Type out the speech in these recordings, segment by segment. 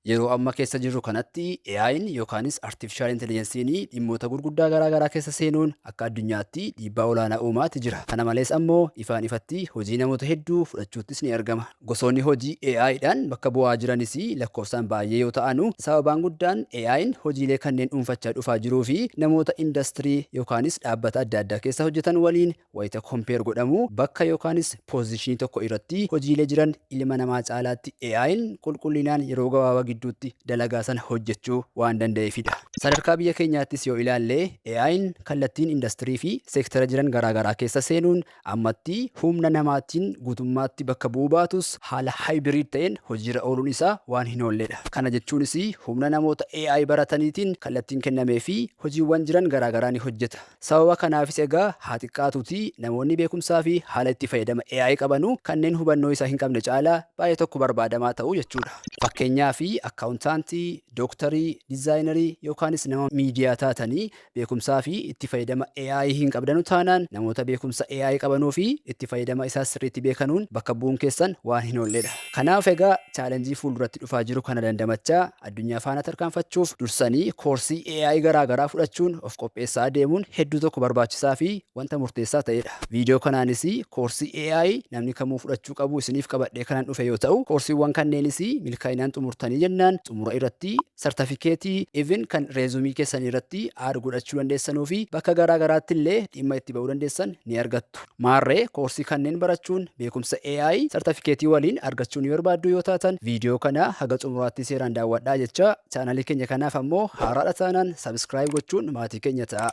Yeroo amma keessa jirru kanatti AI'n yookaanis Artiifishaal Intelijensiin dhimmoota gurguddaa garaa garaa keessa seenuun akka addunyaatti dhiibbaa olaanaa uumaa ti jira. Kana malees ammoo ifaan ifatti hojii namoota hedduu fudhachuuttis ni argama. Gosoonni hojii AI dhaan bakka bu'aa jiranis lakkoofsaan baay'ee yoo ta'anu, sababaan guddaan AI'n hojiilee kanneen dhuunfachaa dhufaa jiruu fi namoota indastirii yookaanis dhaabbata adda addaa keessa hojjetan waliin Wayita compare godhamu bakka yookaanis position tokko iratti hojiilee jiran ilma namaa caalaatti AI'n qulqullinaan yeroo gabaabaa gidduutti dalagaa sana hojjechuu waan danda'eefidha. Sadarkaa biyya keenyaattis yoo ilaalle AI'n kallattiin industirii fi seektara jiran garaagaraa keessa seenuun ammatti humna namaatiin guutummaatti bakka bu'uu baatus haala hybrid ta'een hojiirra ooluun isaa waan hinoolledha. Kana jechuunis humna namoota AI barataniitiin kallattiin kennameefii hojiiwwan jiran garaagaraa ni hojjeta. Sababa kanaafis egaa haa xiqqaatuutii namoonni beekumsaafi haala itti fayyadama AI qabanu kanneen hubannoo isaa hinqabne caalaa baay'ee tokko barbaadamaa ta'u jechuudha. Fakkeenyaaf, akkaawuntaantii, dooktarii, dizaayinarii yookaanis nama miidiyaa taatanii beekumsaafi itti fayyadama AI hinqabdanu taanaan namoota beekumsa AI qabanuufi itti fayyadama isaas sirriitti beekanuun bakka bu'uun keessan waan hinoolledha. Kanaaf egaa chaalenjii fuulduratti dhufaa jiru kana dandamachaa, Addunyaa faana tarkaanfachuuf dursanii koorsii AI garaa garaa fudhachuun of qopheessaa deemuun hedduu tokko barbaachisaa fi wanta murteessaa ta'ee dha. Viidiyoo kanaanis koorsii AI namni kamuu fudhachuu qabu isiniif qabadhee kanan dhufe yoo ta'u, koorsiiwwan kanneenis milkaa'inaan xumurtanii jennaan xumura irratti sartafikeetii, even kan reezumii keessanii irratti add godhachuu dandeessanuu fi bakka garaa garaatti illee dhimma itti ba'uu dandeessan ni argattu. Maarree, koorsii kanneen barachuun beekumsa AI sartafikeetii waliin argachuu ni barbaadduu yoo taatan viidiyoo kana haga xumuraattii seeraan daawwadhaa jechaa, chaanalii keenya kanaaf ammoo haaraadha taanaan subscribe gochuun maatii keenya ta'aa.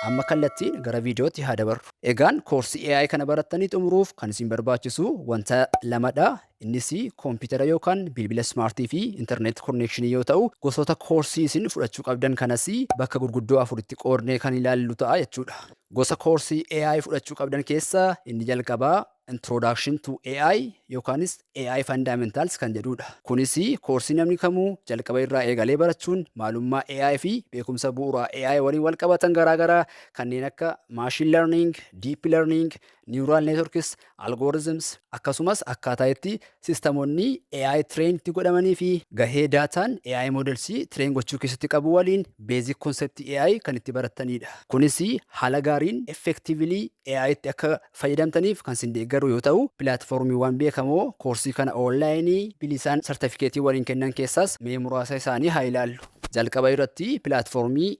Amma kallattiin gara viidiyootti haa dabarru. Egaan koorsii AI kana barattanii xumuruuf kan isin barbaachisu wanta lamadha. Innis koompitara yookaan bilbila smart fi internet connection yoo ta'u gosoota koorsii isin fudhachuu qabdan kanas bakka gurguddoo afuritti qoodnee kan ilaallu ta'a jechuudha. Gosa koorsii AI fudhachuu qabdan keessaa inni jalqabaa Introduction to AI yookaanis AI Fundamentals kan jedhuudha. Kunis koorsii namni kamuu jalqaba irraa eegalee barachuun maalummaa AI fi beekumsa bu'uuraa AI waliin walqabatan garaagaraa kanneen akka machine learning, deep learning, neural networks, algorithms, akkasumas akkaataa itti sistamonni AI train itti godhamanii fi gahee daataan AI models train gochuu keessatti qabu waliin basic concept AI kan itti barattaniidha. Kunis haala gaariin effectively AI tti akka fayyadamtaniif kan sin deeggaru yoo ta'u, pilaatfoormiiwwan beekamoo koorsii kana online bilisaan sartafikeetii waliin kennan keessaas mee muraasa isaanii haa ilaallu. Jalqaba irratti pilaatfoormii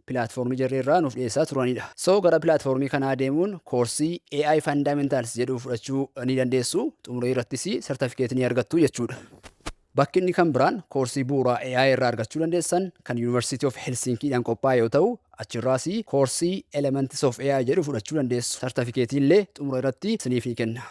platform jarri irraa nuuf dhiyeessaa turanidha. So gara platform kanaa deemuun koorsii AI Fundamentals jedhu fudhachuu ni dandeessu. Xumuree irrattis certificate ni argattu jechuudha. Bakki inni kan biraan koorsii bu'uuraa AI irraa argachuu dandeessan kan University of Helsinki dhaan qophaa'e yoo ta'u, achirraas koorsii Elements of AI jedhu fudhachuu dandeessu. Certificate illee xumura irratti isiniif ni kenna.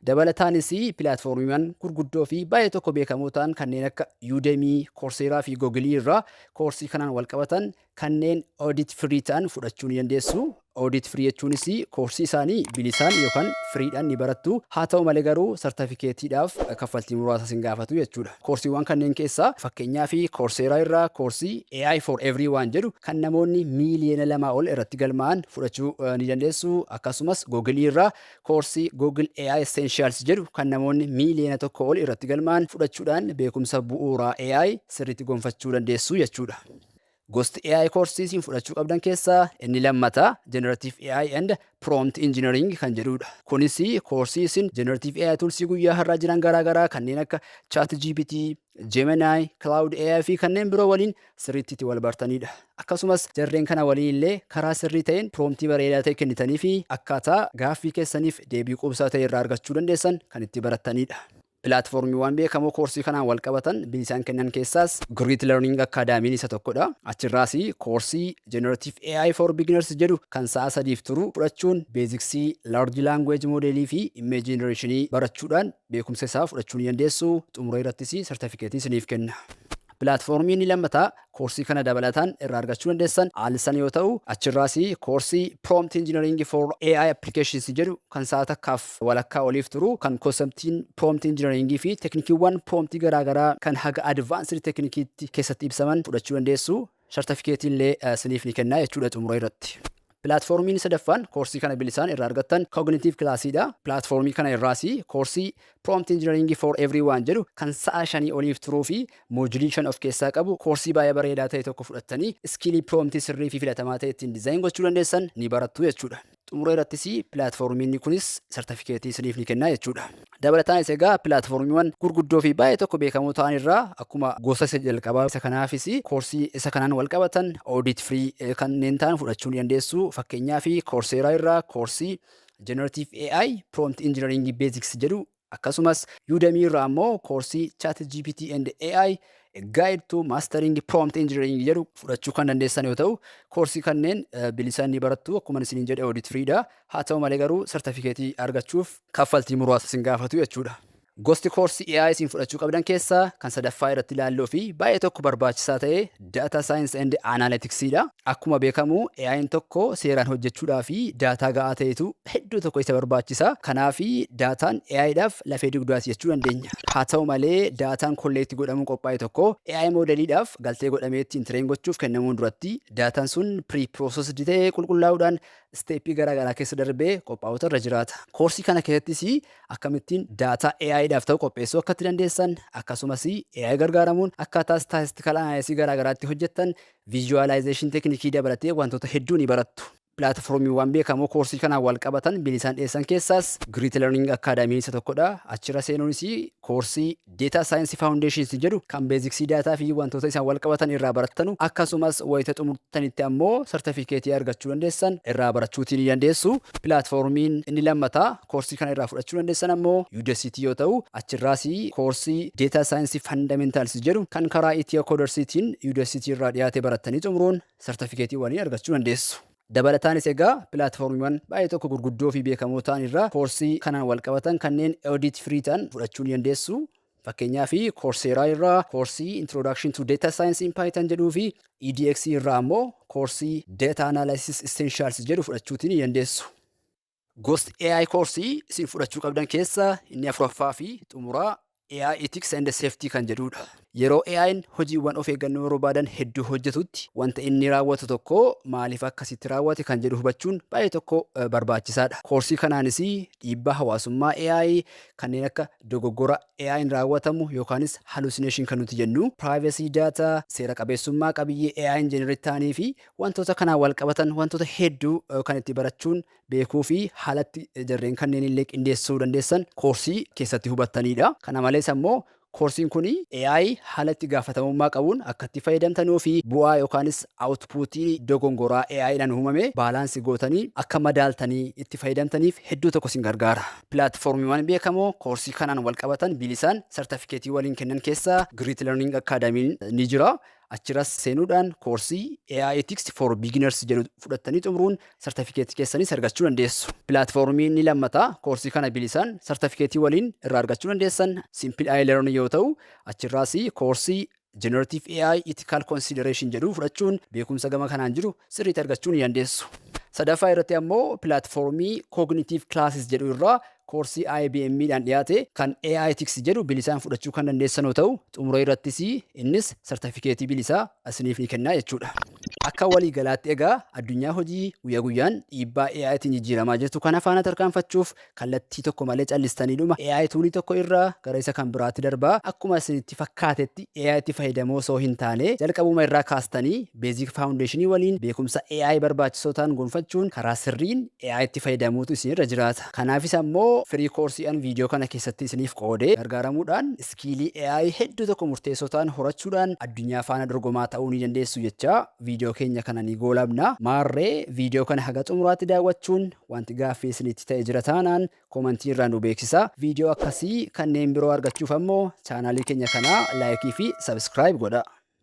Dabalataanis pilaatfoormiiwwan gurguddoo fi baay'ee tokko beekamoo ta'an kanneen akka Udemy, Coursera fi Google irraa koorsii kanaan wal qabatan kanneen audit free ta'an fudhachuu ni dandeessu. Audit free jechuunis koorsii isaanii bilisaan yookaan free dhaan ni barattu. Haa ta'u malee garuu sartafikeetiidhaaf kaffaltii muraasa isin gaafatu jechuudha. Koorsiiwwan kanneen keessaa fakkeenyaaf Coursera irraa koorsii AI for everyone jedhu kan namoonni miiliyoona lamaa ol irratti galmaa'an fudhachuu ni dandeessu. Akkasumas Google irraa Koorsii Google AI Essentials jedhu kan namoonni miiliyoona tokko ol irratti galmaa'an fudhachuudhaan beekumsa bu'uuraa AI sirriitti gonfachuu dandeessu jechuudha. Gosti AI koorsii isin fudhachuu qabdan keessaa inni lammataa Generative AI and Prompt Engineering kan jedhudha. Kunis koorsii isin Generative AI toolsii guyyaa har'aa jiran garaagaraa kanneen akka ChatGPT, Gemini, Cloud AI fi kanneen biroo waliin sirriitti itti wal bartaniidha. Akkasumas jarreen kana waliin illee karaa sirrii ta'een proomtii bareedaa ta'e kennitanii fi akkaataa gaaffii keessaniif deebii quubsaa ta'e irraa argachuu dandeessan kan itti barattaniidha. Pilaatfoormiiwwan beekamoo koorsii kanaan wal qabatan bilisaan kennan keessaas Grit Learning Acadamy'n isa tokkodha. Achirraas koorsii Generative AI for Beginners jedhu kan sa'a sadiif turu fudhachuun beeziksii Large Language Model fi Image Generation barachuudhaan beekumsa isaa fudhachuu ni dandeessu, xumura irrattis sartafikeetii isiniif kenna. Pilaatfoormii inni lammataa koorsii kana dabalataan irraa argachuu dandeessan Alsan yoo ta'u, achirraas koorsii Prompt Engineering for AI Applications jedhu kan sa'a takkaaf walakkaa oliif turu kan konseptiin Prompt Engineering fi teknikiiwwan Prompt garaagaraa kan haga Advanced Teknikiitti keessatti ibsaman fudhachuu dandeessu. Sartafikeetii illee siniif ni kenna jechuudha xumura irratti. Pilaatfoormiin sadaffaan koorsii kana bilisaan irraa argattan Cognitive Class dha. Pilaatfoormii kana irraas koorsii Prompt Engineering for Everyone jedhu kan sa'a shanii oliif turuu fi moojulii shan of keessaa qabu koorsii baay'ee bareedaa ta'e tokko fudhattanii iskiilii piroomtii sirrii fi filatamaa ta'e ittiin dizaayin gochuu dandeessan ni barattu jechuudha. Xumura irrattis pilaatfoormiin kunis sartifikeetii isiniif ni kenna jechuudha. Dabalataanis egaa pilaatfoormiiwwan gurguddoo fi baay'ee tokko beekamoo ta'an irraa akkuma gosa isa jalqabaa isa kanaafis koorsii isa kanaan wal qabatan audit free kanneen ta'an fudhachuu ni dandeessu. Fakkeenyaaf Coursera irraa koorsii Generative AI Prompt Engineering Basics jedhu Akkasumas, Udemy irraa ammoo koorsii ChatGPT and AI, A Guide to Mastering Prompt Engineering jedhu fudhachuu kan dandeessan yoo ta'u, koorsii kanneen bilisaan ni barattu. Akkuman isiniin jedhe audit free dha. Haa ta'u malee garuu sartifikeetii argachuuf kaffaltii muraasa isin gaafatu jechuudha. Gosti koorsii AI isin fudhachuu qabdan keessaa kan sadaffaa irratti ilaallu fi baay'ee tokko barbaachisaa ta'e Data Science and Analytics dha. Akkuma beekamu AI'n tokko seeraan hojjechuudhaaf daataa ga'aa ta'etu hedduu tokko isa barbaachisa. Kanaaf daataan AI'dhaaf lafee dugdaati jechuu dandeenya. Haa ta'u malee daataan kolleekti godhamuun qophaa'e tokko AI moodeliidhaaf galtee godhamee ittiin tireen gochuuf kennamuun duratti daataan sun pre-processed ta'ee qulqullaa'uudhaan isteeppii garaa garaa keessa darbee qophaa'uutu irra jiraata. Koorsii kana keessattis akkamittiin daataa AI dhaaf ta'u qopheessuu akka itti dandeessan, akkasumas AI gargaaramuun akkaataa statistical analysis garaa garaa itti hojjettan, visualization tekinikii dabalatee wantoota hedduu ni barattu. Pilaatfoormiiwwan beekamoo koorsii kanaan wal qabatan bilisaan dhiyeessan keessaas Great Learning Academy isa tokkodha. Achirra seenuunis koorsii Data Science Foundations jedhu kan beeziksii daataa fi wantoota isaan walqabatan irraa barattanu akkasumas wayita xumurtanitti ammoo sartafikeetii argachuu dandeessan irraa barachuutii ni dandeessu. Pilaatfoormiin inni lammataa koorsii kana irraa fudhachuu dandeessan ammoo Udacity yoo ta'u, achirraas koorsii Data Science Fundamentals jedhu kan karaa Ethio Coders tiin Udacity irraa dhiyaate barattanii xumuruun sartafikeetii waliin argachuu dandeessu. Dabalataanis egaa pilaatfoormiiwwan baay'ee tokko gurguddoo fi beekamoo ta'an irraa koorsii kanaan walqabatan kanneen audit free ta'an fudhachuu ni dandeessu. Fakkeenyaaf Coursera irraa koorsii Introduction to Data Science in Python jedhuu fi EDX irraa ammoo koorsii Data Analysis Essentials jedhu fudhachuutii ni dandeessu. Gosti AI koorsii isin fudhachuu qabdan keessaa inni afuraffaa fi xumuraa AI Ethics and Safety kan jedhudha. Yeroo AI'n hojiiwwan of eeggannoo barbaadan hedduu hojjetutti wanta inni raawwatu tokko maaliif akkasitti raawwate kan jedhu hubachuun baay'ee tokko barbaachisaadha. Koorsii kanaanis dhiibbaa hawaasummaa AI kanneen akka dogoggora AI'n raawwatamu yookaanis hallucination kan nuti jennu, privacy data, seera qabeessummaa qabiyyee AI'n generate ta'anii fi Wantoota kanaan walqabatan wantoota hedduu kan itti barachuun, beekuu fi haala itti jarreen kanneen illee qindeessuu dandeessan koorsii keessatti hubattaniidha. Kana malees ammoo koorsiin kun AI haala itti gaafatamummaa qabuun akka itti fayyadamtanuu fi bu'aa yookaanis outpuutii dogongoraa AI dhaan uumame baalaansi gootanii akka madaaltanii itti fayyadamtaniif hedduu tokko isin gargaara. Pilaatfoormiiwwan beekamoo koorsii kanaan walqabatan bilisaan sartafikeetii waliin kennan keessaa Great Learning Academy ni jira. Achiras seenuudhaan koorsii AI Ethics for Beginners jedhu fudhattanii xumuruun sartifikeetii keessanis argachuu dandeessu. Pilaatfoormii inni lammataa koorsii kana bilisaan sartifikeetii waliin irraa argachuu dandeessan Simple AI Learn yoo ta'u, achirraas koorsii Generative AI Ethical Consideration jedhu fudhachuun beekumsa gama kanaan jiru sirriitti argachuu ni dandeessu. Sadaffaa irratti ammoo pilaatfoormii Cognitive Classes jedhu irraa Koorsii IBM dhaan dhiyaate kan AI Ethics jedhu bilisaan fudhachuu kan dandeessan yoo ta'u, xumura irrattis innis sartafikeetii bilisaa isiniif ni kenna jechuu dha. Akka walii galaatti egaa addunyaa hojii guyyaa guyyaan dhiibbaa AI tiin jijjiiramaa jirtu kana faana tarkaanfachuuf kallattii tokko malee callistaniidhuma AI tuulii tokko irraa gara isa kan biraatti darbaa akkuma isinitti fakkaatetti AI tti fayyadamoo osoo hin taanee jalqabuma irraa kaastanii basic foundation waliin beekumsa AI barbaachisoo ta'an gonfachuun karaa sirriin AI tti fayyadamuutu isin irra jiraata. Kanaafis ammoo free course an video kana keessatti isiniif qoode gargaaramuudhaan iskiilii AI hedduu tokko murteessoo ta'an horachuudhaan addunyaa faana dorgomaa ta'uu ni dandeessu jechaa video keenya kana ni goolabna. Maarree video kana haga xumuraatti daawwachuun wanti gaaffii isinitti ta'e jira taanaan comment irraa nu beeksisa. Video akkasii kanneen biroo argachuuf ammoo channel keenya kana like fi subscribe godhaa.